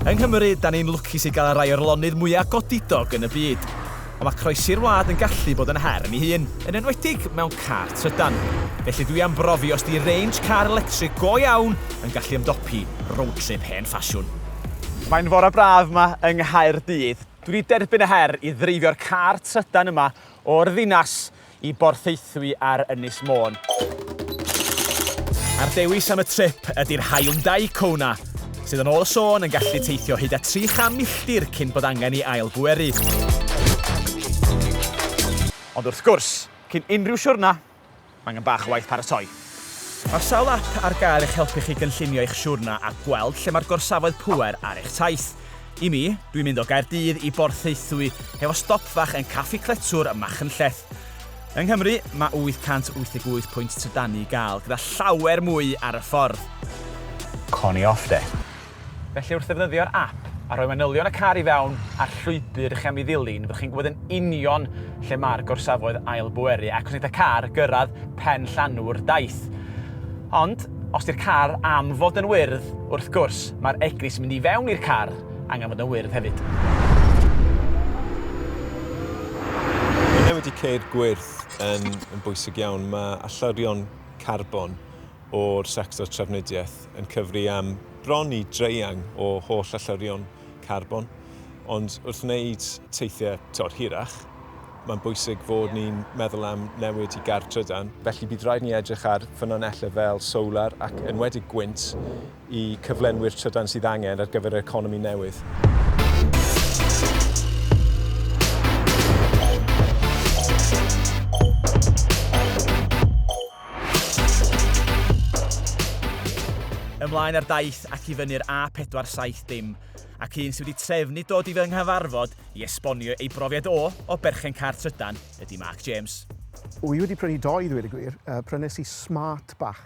Yng Nghymru, da ni'n lwcus i gael rhai o'r lonydd mwya' godidog yn y byd. Ond mae croesi'r wlad yn gallu bod yn her yn ei hun, yn enwedig mewn car trydan. Felly dwi am brofi os 'di range car electric go iawn yn gallu ymdopi road trip hen ffasiwn. Mae'n fore braf 'ma yng Nghaerdydd. Dwi 'di derbyn y her i ddreifio'r car trydan yma o'r ddinas i Borthaethwy ar Ynys Môn. A'r dewis am y trip ydy'r Hyundai Kona, sydd yn ôl y sôn yn gallu teithio hyd at 300 milltir cyn bod angen i ail bweru. Ond wrth gwrs, cyn unrhyw siwrna, mae angen bach o waith paratoi. Mae sawl ap ar gael i'ch helpu chi gynllunio eich siwrna a gweld lle mae'r gorsafoedd pŵer ar eich taith. I mi, dwi'n mynd o Gaerdydd i Borthaethwy hefo stop fach yn Caffi Cletwr ym Machynlleth. Yng Nghymru, mae 888 pwynt trydannu i gael, gyda llawer mwy ar y ffordd. Connie off de. Felly wrth ddefnyddio'r ap a rhoi manylion y car i fewn a'r llwybr chi am ei ddilyn, fyddwch chi'n gwybod yn union lle mae'r gorsafoedd ail bweru ac os wneith y car gyrraedd pen llanw'r daith. Ond, os di'r car am fod yn wyrdd, wrth gwrs, mae'r egni sy'n mynd i fewn i'r car angen fod yn wyrdd hefyd. Mae newid y ceir gwyrdd yn bwysig iawn. Mae allyrion carbon o'r sector trafnidiaeth yn cyfri am bron i draean o holl allurion carbon, ond wrth wneud teithiau tor hirach, mae'n bwysig fod ni'n meddwl am newid i gar trydan. Felly bydd rhaid ni edrych ar ffynonellau fel solar ac enwedig gwynt i cyflenwi'r trydan sydd angen ar gyfer yr economi newydd. ymlaen ar daith ac i fyny'r A470 ac un sydd wedi trefnu dod i fy nghyfarfod i esbonio ei brofiad o o berchen car trydan ydy Mark James. Wy wedi prynu doi ddweud y gwir, uh, prynes i smart bach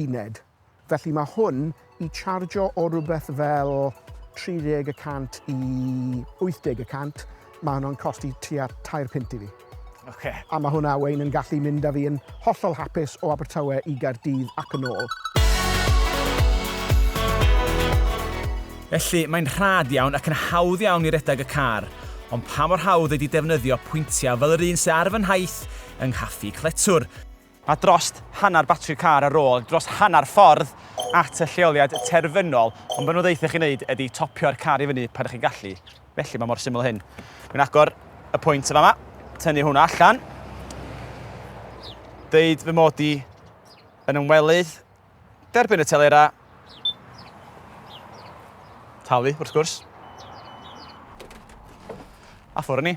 uned. Felly mae hwn i chargio o rywbeth fel 30 y cant i 80 y cant, mae hwnna'n costi tua tair punt i fi. Okay. A mae hwnna wein yn gallu mynd â fi yn hollol hapus o Abertawe i Gaerdydd ac yn ôl. Felly, mae'n rhad iawn ac yn hawdd iawn i redeg y car, ond pa mor hawdd ydy defnyddio pwyntiau fel yr un sydd ar fy nhaith yng Nghaffi Cletwr? Mae dros hanner batri car ar ôl dros hanner ffordd at y lleoliad terfynol, ond be nhw'n ddeutha chi wneud ydi topio'r car i fyny pan ydych chi'n gallu. Felly mae mor syml â hyn. Dwi'n agor y pwynt yn fama, tynnu hwnna allan, deud fy mod i yn ymwelydd, derbyn y telera, talu wrth gwrs, a ffwrdd ni.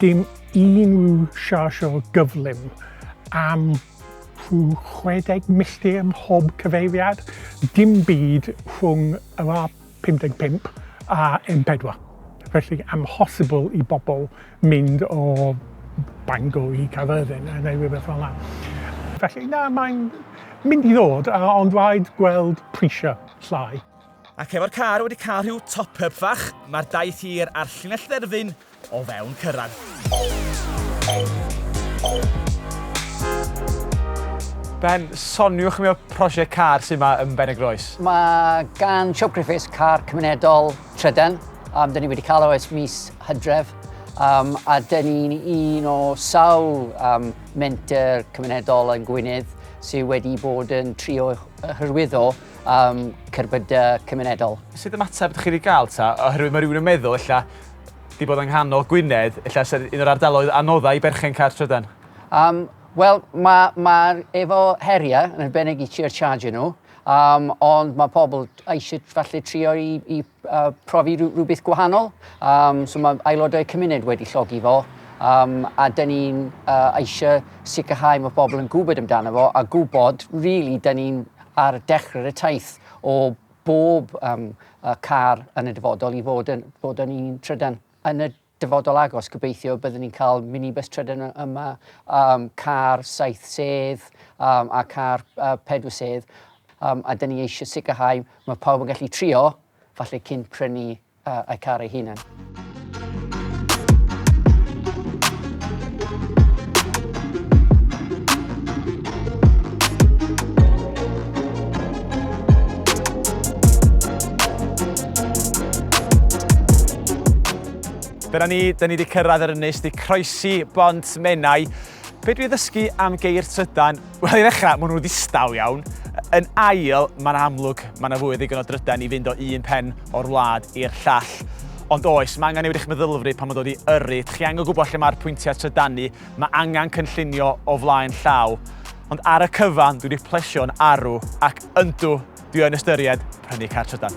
Dim unrhyw siarsio gyflym am rhyw 60 milltir ym mhob cyfeiriad, dim byd rhwng yr A55 a M4, felly amhosibl i bobl mynd o Bangor i Gaerfyrddin neu rhywbeth fel 'na. Felly na, mae'n mynd i ddod, ond rhaid gweld prisiau llai. Ac efo'r car wedi cael rhyw top-up fach, mae'r daith hir a'r llinell dderfyn o fewn cyrraedd. Ben, soniwch mi o prosiect car sydd yma yn Ben y Groes. Mae gan Siop Griffiths car cymunedol trydan. Um, dyn ni wedi cael o ers mis hydref. Um, a dyn ni'n un o sawl um, menter cymunedol yn Gwynedd sydd wedi bod yn trio hyrwyddo am cerbydau cymunedol. Sut ymateb ydych chi wedi cael ta? Oherwydd mae rhywun yn meddwl, ella, di bod yng nghanol Gwynedd, ella sy'n un o'r ardaloedd anoddau i berchen car trydan. Um, Wel, mae ma efo heriau yn arbennig i ti'r charge nhw, um, ond mae pobl eisiau falle trio i, i uh, profi rhywbeth gwahanol. Um, so mae aelodau cymuned wedi llogi fo, um, a dyn ni'n uh, eisiau sicrhau mae pobl yn gwybod amdano fo a gwybod, really, dyn ni'n ar dechrau'r taith o bob um, car yn y dyfodol i fod yn, fod yn un trydan. Yn y dyfodol agos, gobeithio byddwn ni'n cael minibus trydan yma, um, car saith sedd um, a car uh, pedwar sedd. Um, a dyn ni eisiau sicrhau mae pawb yn gallu trio, falle cyn prynu a a'u car eu hunain. Dyna ni, dyn ni wedi cyrraedd yr ynys, di croesi bont Menai. Be dwi ddysgu am geir trydan Wel, i ddechrau, maen nhw ddistaw iawn. Yn ail, mae'n amlwg, mae yna fwy o ddigon o drydan i fynd o un pen o'r wlad i'r llall. Ond oes, mae angen newid eich meddylfryd pan mae'n dod i yrru. Chi angen gwybod lle mae'r pwyntiau trydanu, mae angen cynllunio o flaen llaw. Ond ar y cyfan, dwi wedi plesio'n arw, ac yndw, dwi yn ystyried prynu car trydan.